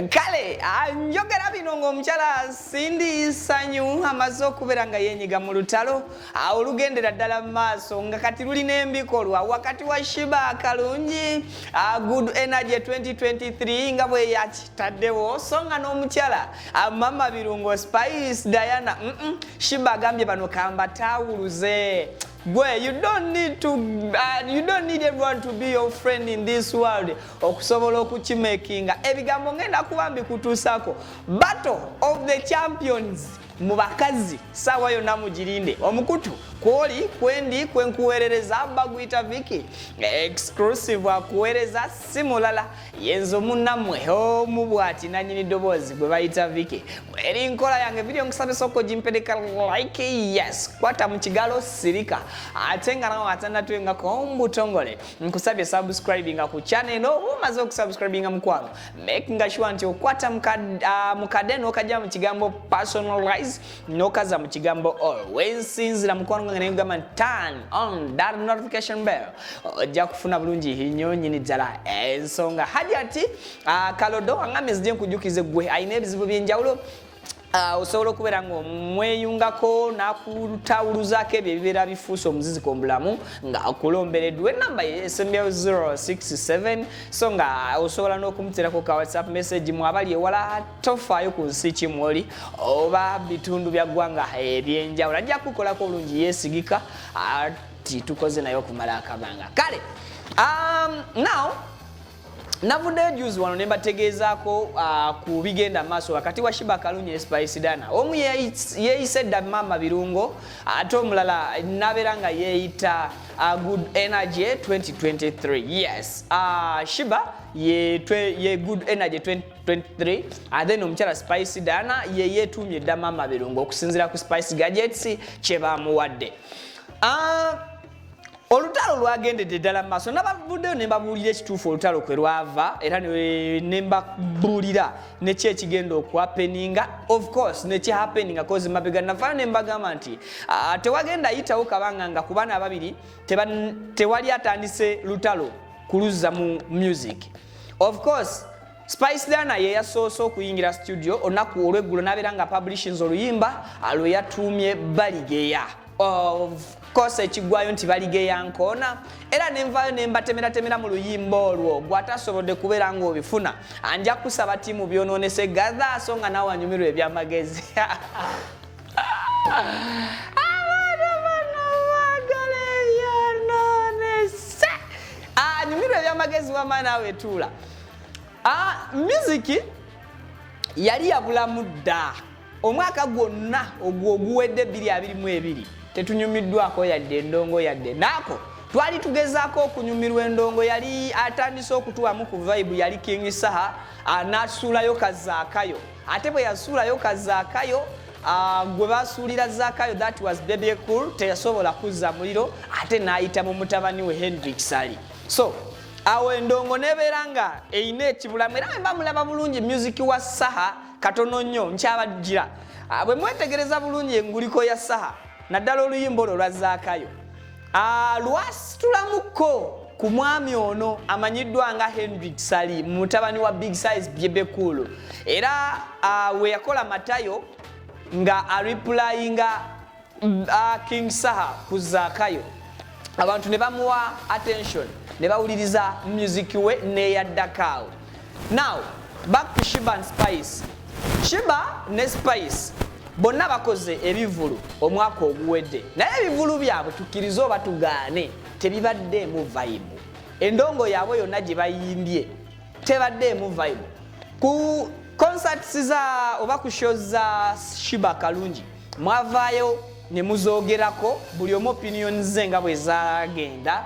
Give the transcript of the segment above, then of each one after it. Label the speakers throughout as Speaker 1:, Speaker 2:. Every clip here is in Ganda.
Speaker 1: kale ah, njogera bino ng'omukyala sindi sanyu amaze okubeera nga yenyiga mu lutalo ah, olugendera ddala mu maaso nga kati lulina embikolwa wakati wa shiba kalungi ah, good energy 2023 nga bweyakitaddewo so nga n'omukyala Ah, mama birungo spice diana mm -mm. shiba agambye bano kamba tawuluze gwe you don't need to uh, you don't need everyone to be your friend in this world okusobola okukimakinga ebigambo ngenda kuba mbikutuusako battle of the champions mu bakazi saawa yonna mugirinde omukutu kwoli kwendi kwenkuweerereza baguyita viki exclusive akuweereza si mulala yenzo munamwe omu bwati nanyini ddoboozi gwe bayita viki eri nkola yange video nkusabye soko gimpeleka like yes kwata mu kigalo sirika ate nga nawe atanatwengako omubutongole nkusabye subscribinga ku channel eno oba omaze okusubscribinga mukwano make nga sure nti okwata mukade ah, n'okajja mu kigambo personalize nokaza mu kigambo all wensinzira mukwano gwange naye gamba turn on that notification bell ojja kufuna bulungi nnyo nyini ddala ensonga hadi ati ah, kalodo wangambye zije nkujukize gwe alina ebizibu byenjawulo Uh, osobola okubeera nga omweyungako nakutawuluzaako ebyo ebibeera bifuusa omuziziko mubulamu nga akulomberedwa enamba esembyayo 067 so nga osobola n'okumuterako ka whatsapp message mwabali ewala tofaayo ku nsi ki mwoli oba bitundu bya ggwanga ebyenjawulo ajja kukolako obulungi yeesigika ati tukoze naye okumala akabanga kale um, now navuddeyo juzi wano ne mbategeezaako uh, ku bigenda maaso wakati wa shiba kalunyi ne spice dana omu yeeyise dda maama birungo ate omulala nabeera nga yeeyita uh, good energy 2023 yes uh, shiba ye, twe, ye good energy 20 23 ate no omukyala spice dana ye yetuumye dda maama birungo okusinziira ku spice gadgets kye bamuwadde ah, olutalo lwagendedde ddala mu maaso nabavuddeyo ne mbabuulira ekituufu olutalo kwe lwava era ne mbabuulira neki ekigenda okuhapeninga of course neki hapeninga kozi mabega navaayo ne mbagamba nti ah, tewagenda yitawo kabanga nga ku baana ababiri tewali atandise lutalo kuluzza mu music Of course Spice Diana ye yasoose okuyingira studio olunaku olw'eggulo n'abeera nga publishings oluyimba ah, lwe yatuumye Baligeya of course ekiggwayo nti Baligeya nkoona era ne nvaayo ne mbatemeratemera mu luyimba olwo gw'atasobodde kubeera ng'obifuna anja kusaba ttiimu byonoonese gadha so nga nawe anyumirwa ebyamagezi nyumirwa ebyamagezi wama naawe tuula miziki yali yabulamu dda omwaka gwonna ogwo oguwedde 222 tetunyumiddwako yadde endongo yadde naako twali tugezaako okunyumirwa endongo yali atandise okutuwamu ku vaibu yali king saha anasuulayo kazaakayo ate bwe yasuulayo ka zaakayo ah, gwe basuulira zaakayo that was baby cool teyasobola kuzza muliro ate n'ayita mu mutabani we henry kisali so awo endongo nebeera nga erina ekibulamu era wemba mulaba bulungi musiki wa saha katono nnyo nkyabajjira ah, bwe mwetegereza bulungi enguliko ya saha naddala oluyimba olwo lwa zaakayo Ah, lwasitulamukko ku mwami ono amanyiddwa nga henry sali mutabani wa big size byebekulu era ah, we yakola matayo nga aripulayinga ah, king saha ku zakayo abantu ne bamuwa attention ne bawuliriza music we neyaddakaawo now back to shiba and spice shiba ne spice bonna bakoze ebivulu omwaka oguwedde naye ebivulu byabwe tukkirize oba tugaane tebibaddeemu vayibu endongo yaabwe yonna gye bayimbye tebaddeemu vayibu ku concerts za oba ku shows za shiba kalungi mwavaayo ne muzoogerako buli omu opinion ze nga bwe zagenda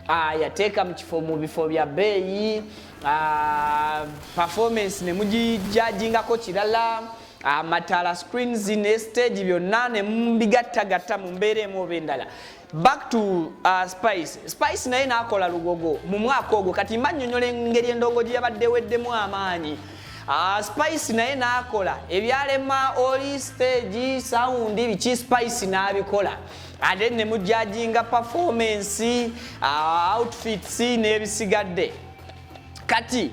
Speaker 1: ah, yateeka mu kifo mu bifo bya bbeeyi uh, performance ne mugijajingako kirala amatala ah, uh, screens ne stage byonna ne mubigattagatta mu mbeera emu oba endala back to uh, spice spice naye naakola lugogo mu mwaka ogwo kati mba nnyonnyola engeri endongo gye yabadde weddemu amaanyi Ah, spice naye n'akola ebyalema oli stage sound biki spice n'abikola and then ne mujajinga performance uh, outfits n'ebisigadde kati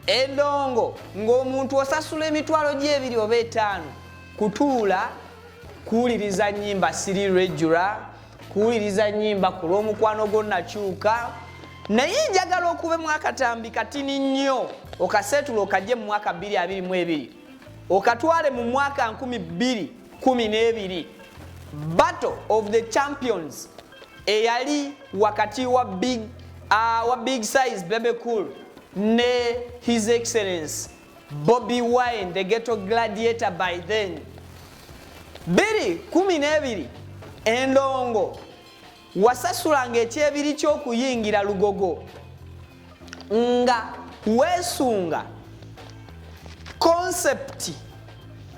Speaker 1: endongo ng'omuntu osasula emitwalo gy'ebiri oba etaano kutuula kuwuliriza nyimba siri regula kuwuliriza nyimba ku lw'omukwano gwo nakyuka naye njagala okube mwakatambi katini nnyo okaseetula okajje mu mwaka 222 okatwale mu mwaka 212 battle of the champions eyali wakati wa big, uh, wa big size bebe cool ne his excellence bobi wine the ghetto gladiator by then 212 endongo wasasulanga ekyebiri ky'okuyingira lugogo nga weesunga konsepti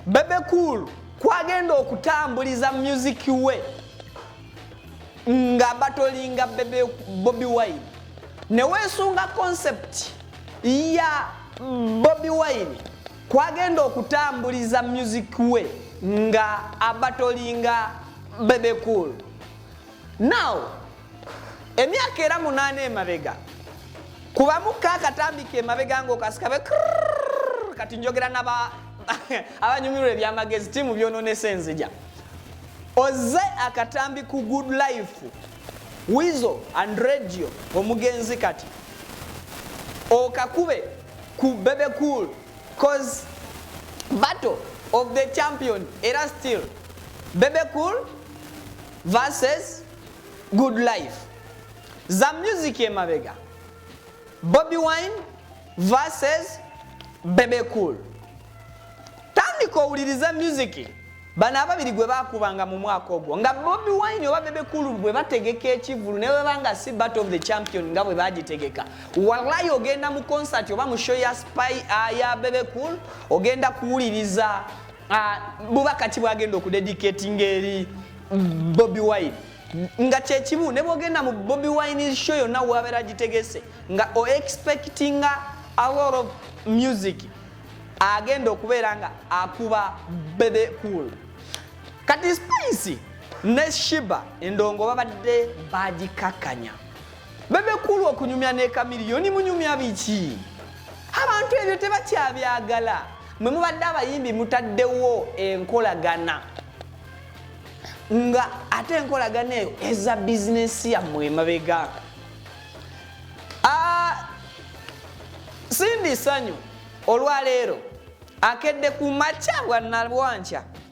Speaker 1: Bebe Cool kwagenda okutambuliza music we nga batolinga Bebe Bobi Wine ne weesunga konsepti ya Bobi Wine kwagenda okutambuliza music we nga abatolinga Bebe Cool now emyaka era munaana emabega kubamu kakatambi kemabega ngaokasikabe kati njogera naba abanyumirwa ebyamagezi timu byononesa enzija oze akatambi ku good life wizo and radio omugenzi kati okakube ku bebe cool cause battle of the champion era still bebe cool versus good life za music emabega bobi wine versus bebe cool tandika owuliriza music bano ababiri gwe bakubanga mu mwaka ogwo nga bobi wine oba bebe cool bwe bategeka ekivulu ne webanga si battle of the champion nga bwe bagitegeka wallayi ogenda mu concert oba mu show ya spy ah, ya bebe cool ogenda kuwuliriza Ah, bubaka ki bwagenda okudedicatinga eri bobi wine nga kyekimu ne bwogenda mu bobi wine show yonna wabeera agitegese nga o expectinga a lot of music agenda okubeera nga akuba bebe cool kati spice ne shiba endongo babadde bagikakanya bebe cool okunyumya ne kamiliyoni munyumya biki abantu ebyo tebakyabyagala mwe mubadde abayimbi mutaddewo enkolagana nga ate enkolagana eyo eza bizinesi yammwe emabega ah, sindi sanyu olwaleero akedde ku makya bwanalwankya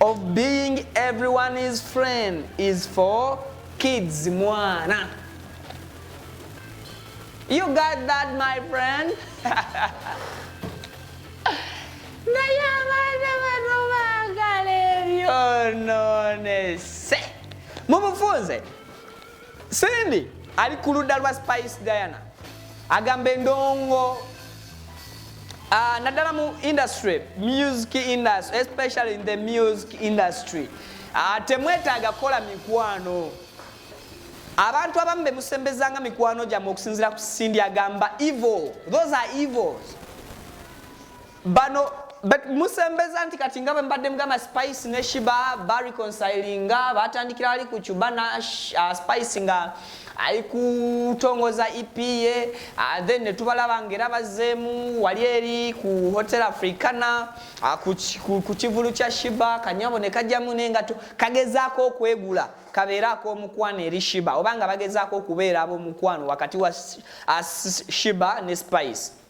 Speaker 1: of being everyone is friend is for kids mwana you got that my friend naye abaana bano baagala ebyononese mumufunze Cindy ali ku ludda lwa Spice Diana agamba endongo uh, naddala mu industry music industry especially in the music industry uh, temwetaaga kukola mikwano abantu abamu be musembezanga mikwano gyammwe okusinzira ku Cindy agamba evil those are evils bano but musembeza nti kati nga bwembadde mugamba spice ne shiba bareconsilinga batandikira ali ku cuba na uh, spice nga ali kutongoza ep ye uh, then netubalaba ngaera bazeemu wali eri ku hotel africana uh, ku kivulu kya shiba kanyabo ne kajjamu naye nga kagezaako okwegula kabeera ak'omukwano eri shiba oba nga bagezaako okubeera ab'omukwano wakati wa uh, shiba ne spice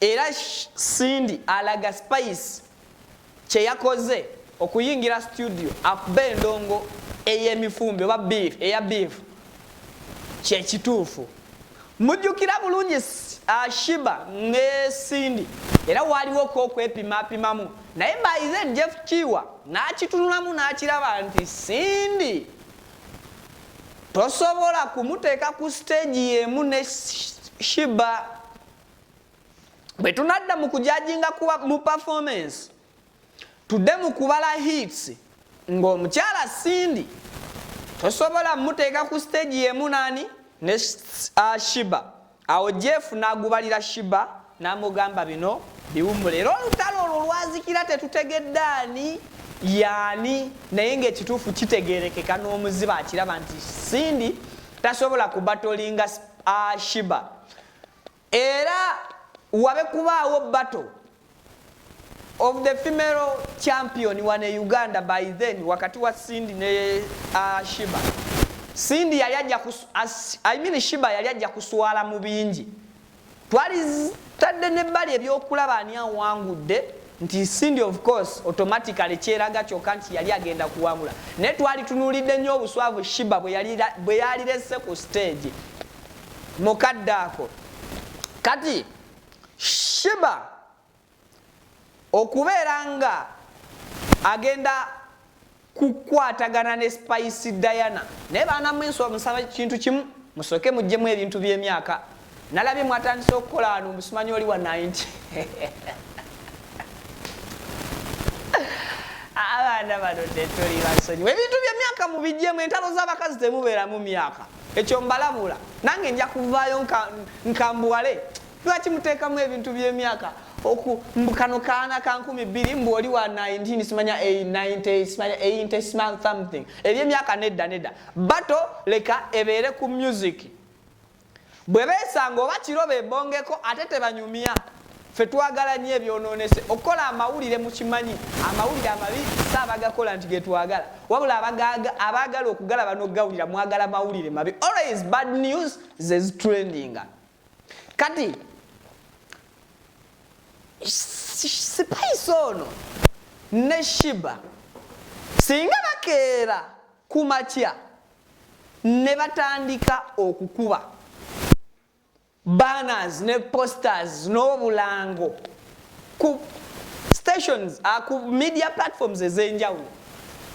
Speaker 1: era Cindy alaga Spice kye yakoze okuyingira studio akube endongo ey'emifumbi oba beef eya beef kye kituufu mujjukira bulungi uh, Shiba ne Cindy era waaliwo ko okwepimapimamu naye by then Jeff Kiwa n'akitunulamu n'akiraba nti Cindy tosobola kumuteeka ku siteegi y'emu ne shiba bwe tunadda mu kujajinga kuba mu performance tudde mu kubala hits ng'omukyala sindi tosobola muteeka ku siteegi y'emu nani ne ah, shiba Awo Jeff n'agubalira Shiba n'amugamba bino biwummula era olutalo olwo lwazikira tetutegedde ani yaani naye ng'ekituufu kitegeerekeka n'omuziba akiraba nti Cindy tasobola kubatolinga Shiba era wabe kubaawo bato of the female champion wano e Uganda by then wakati wa Cindy ne uh, Shiba. Cindy yali ajja ku I mean Shiba yali ajja kuswala mu bingi. Twali tadde ne bali ebyokulaba ani awangudde nti Cindy of course automatically kyeraga kyoka nti yali agenda kuwangula. Ne twali tunulidde nnyo obuswavu Shiba bwe yali bwe yali lesse ku stage. Mukaddaako. Kati Shiba okubeera nga agenda kukwatagana ne Spice Diana naye baana mwe nswa musaba kintu kimu musooke mujjemu ebintu by'emyaka nalabye mwatandise okukola wano omusimanyi oli wa 90 abaana bano tetuli basonyiwa ebintu by'emyaka mubijjemu entalo z'abakazi temubeeramu myaka Ekyo mbalabula nange nja kuvaayo nkambuwale lwaki muteekamu ebintu by'emyaka oku mbu kano kaana ka nkumi bbiri mbu oli wa 19 simanya 90 simanya 80 simanya something ebyemyaka nedda nedda bato leka ebeere ku music bwe beesanga oba kiro bebongeko ate tebanyumya Ffe twagala nnyo ebyononese. Okukola amawulire mukimanyi amawulire amabi si abagakola nti getwagala wabula abagaaga abaagala okugalaba nogawulira mwagala mawulire mabi always bad news zezitrendinga kati sipaisi ono ne shiba singa bakeera ku makya ne batandika okukuba banners ne posters n'obulango ku stations uh, ku media platforms ez'enjawulo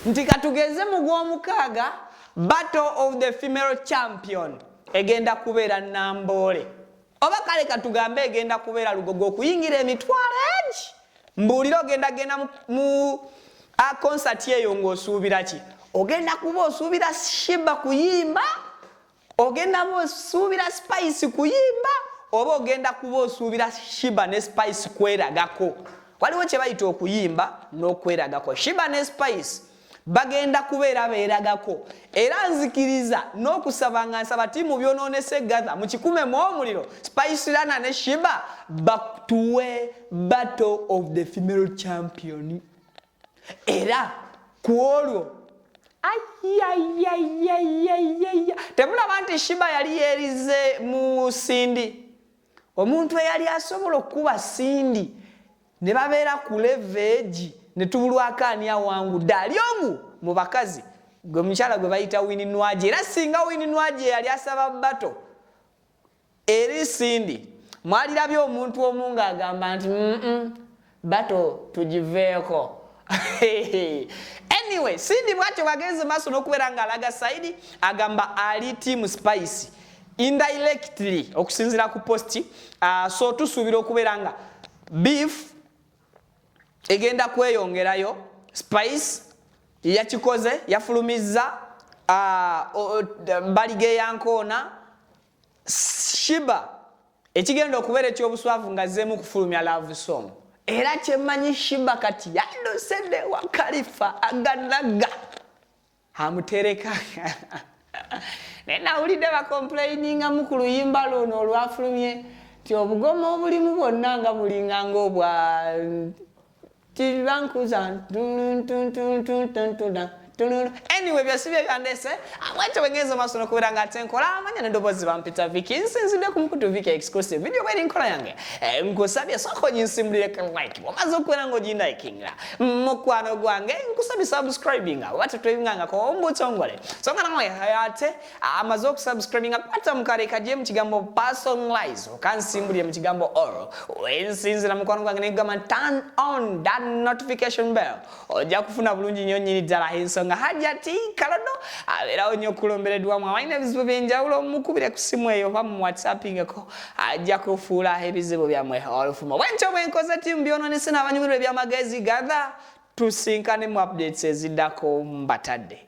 Speaker 1: nti katugeze mu gw'omukaaga battle of the female champion egenda kubeera namboole oba kale katugambe egenda kubeera lugogo okuyingira emitwalo egi mbuulire ogenda genda mu a concert eyo ng'osuubira ki ogenda kuba osuubira shiba kuyimba ogenda ba osuubira spice kuyimba oba ogenda kuba osuubira shiba ne spice kweragako waliwo kyebayita okuyimba n'okweragako shiba ne spice bagenda kubeera beeragako era nzikiriza n'okusaba nga nsaba ti mu byonoonese gatha mu kikume mu omuliro spice lana ne shiba batuwe battle of the female champion era ku olwo ayayayayayaya temulaba nti shiba yali yerize mu sindi omuntu eyali asobola okukuba sindi ne babeera ku leveegi ne tubulwako ani awangudde ali omu mu bakazi gwe mukyala gwe bayita wini nwaje era singa wini nwaje yali asaba bato Eri Cindy, mwalirabye omuntu omu ng'agamba nti mm bato tugiveeko anyway Cindy bwatyo bwagenze maaso n'okubeera ng'alaga sayidi agamba ali tiimu spice indirectly okusinzira ku posti uh, so tusuubira okubeera nga beef egenda kweyongerayo spice yakikoze yafulumizza uh, mbaliga eyankoona shiba ekigenda okubeera ekyobuswavu nga zzeemu kufulumya love song era kyemanyi shiba kati yandosede wa kalifa aganaga amutereka naye nawulidde bakomplaininga mu ku luyimba luno olwafulumye nti obugoma obulimu bwonna nga bulinga ngaobwa Kiriba nkuza anyway byasibye byandese abwekyo bwengenza maaso nokubeera nga ate nkola amanya nedoboozi bampita viki nsinzidde ku mukutu viki exclusive video bweri nkola yange eh, nkusabye sooka oginsimbulire ka like bwomaze okubeera nga oginlikinga mukwano gwange nkusabye subscribinga oba tetweyungangako ombuto ngole songa nawe ate amaze okusubscribinga kwata mukale kaje mu kigambo personalize okansimbulire mu kigambo all wensinzira mukwano gwange negamba turn on that notification bell ojja kufuna bulungi nnyo nyini ddala ensonga hajati kalodo abeerawo nnyo okulomberedwamu abalina ebizibu byenjawulo mukubire ku simu eyo oba mu whatsappingeko ajja kufuula ebizibu byammwe olufumo bwentyo bwenkoze ti mbyononese n'abanyumirwa ebyamagezi gatha tusinkane mu updates eziddako mbatadde